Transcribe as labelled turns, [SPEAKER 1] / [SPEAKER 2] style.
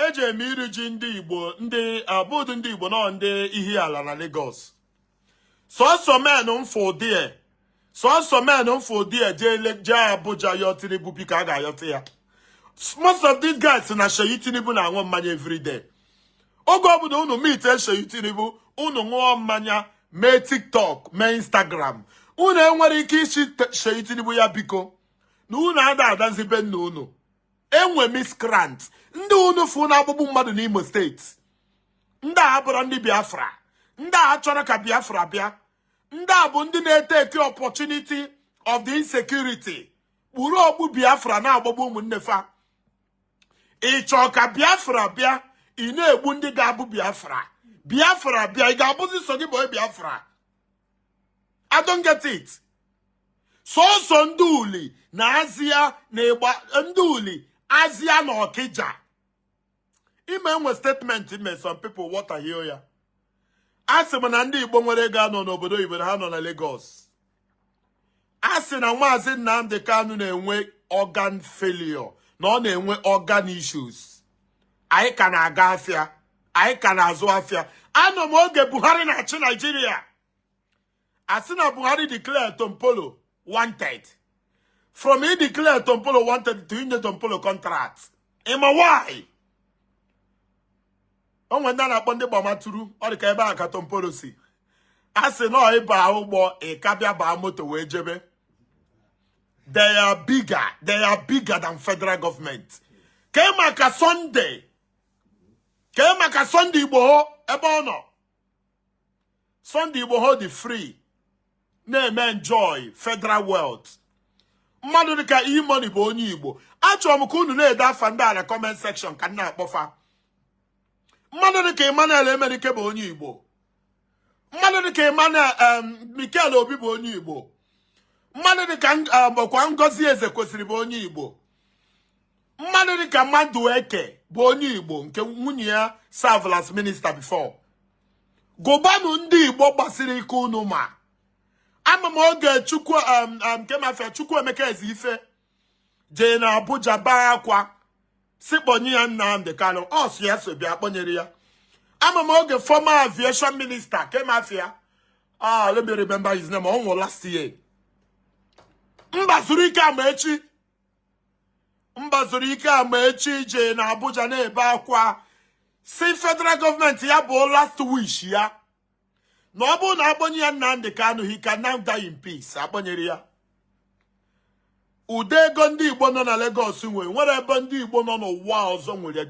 [SPEAKER 1] eji eme iri ji ndị igbo ndị a bụdụ ndị igbo nọ ndị ihe ala na Lagos sọsọ men mfụ ụdị ya sọsọ men mfụ ụdị ya jee Abuja yọ Tinubu biko a ga-ayọta ya most of these guys na Seyi Tinubu na-aṅụ mmanya everyday oge ọbụla unu meet Seyi Tinubu unu ṅụọ mmanya mee TikTok mee Instagram unu enwere ike ịsị Seyi Tinubu ya biko na unu ada adazi be nna unu e nwe miscreant ndị unu fụ na-agbagbu mmadụ n'Imo steeti ndị a abụrọ ndị Biafra ndị a achọrọ ka Biafra bịa ndị a bụ ndị na-eteki opportunity of the insecurity kpuru okpu Biafra na-agbagbu ụmụnne fa ị chọọ ka Biafra bịa ị na-egbu ndị ga-abụ Biafra Biafra bịa ị ga-abụzi sọ gị bụ Biafra I don't get it sọsọ ndị Uli na Azịa na ịgba ndị Uli Azịa na Ọkịja ime e nwe statement m me some people water hio ya a sị m na ndị igbo nwere ego anọ n'obodo oyibo na ha nọ na Lagos a sị na maazị Nnamdi Kanu na-enwe organ failure na ọ na-enwe organ issues anyị ka na-aga afịa anyị ka na-azụ afịa anọ m oge Buhari na-achị Naijiria a sị na Buhari declare Tompolo wanted from he declare Tompolo wanted to inye Tompolo contract ị ma why o nwe ndị a na-akpọ ndị Gbamaturu ọ dị ka ebe a ka Tompolo si a sị na ị ba ụgbọ ị ka bịa baa moto wee jebe they are bigger they are bigger than federal government kee maka Sunday kee maka Sunday Igboho ebe ọ nọ Sunday Igboho dị free na-eme enjoy federal wealth mmadụ dịka E-Money bụ onye Igbo achọrọ m ka unu na-ede afa ndị a na comment section ka m na-akpọfa mmadụ dịka Emmanuel Emenike bụ onye Igbo mmadụ dịka Mikel Obi bụ onye Igbo mmadụ dịka bụkwa Ngozi Ezekwesili bụ onye Igbo mmadụ dịka Madueke bụ onye Igbo nke nwunye ya serve as minista before gụbanụ ndị igbo gbasiri ike unu ma ama m oge chukwu um, um, kee ma afa ya Chukwuemeka Ezeife jee na Abuja baa akwa sị kpọnye ya Nnamdi Kanu ọ sị ya so bịa a kpọnyere ya ama m oge fọma aviation minista kee ma afa ya ah let me remember his name ọ nwụrụ last year Mbazulike Amaechi Mbazulike Amaechi jee na Abuja na-ebe akwa sị federal gọọmenti ya bụ last wish ya na ọ bụrụ na a kpọnye ya Nnamdi Kanu he can now die in peace a kpọnyere ya ụdị ego ndị Igbo nọ na Lagos nwere o nwere ebe ndị Igbo nọ n'ụwa ọzọ nwere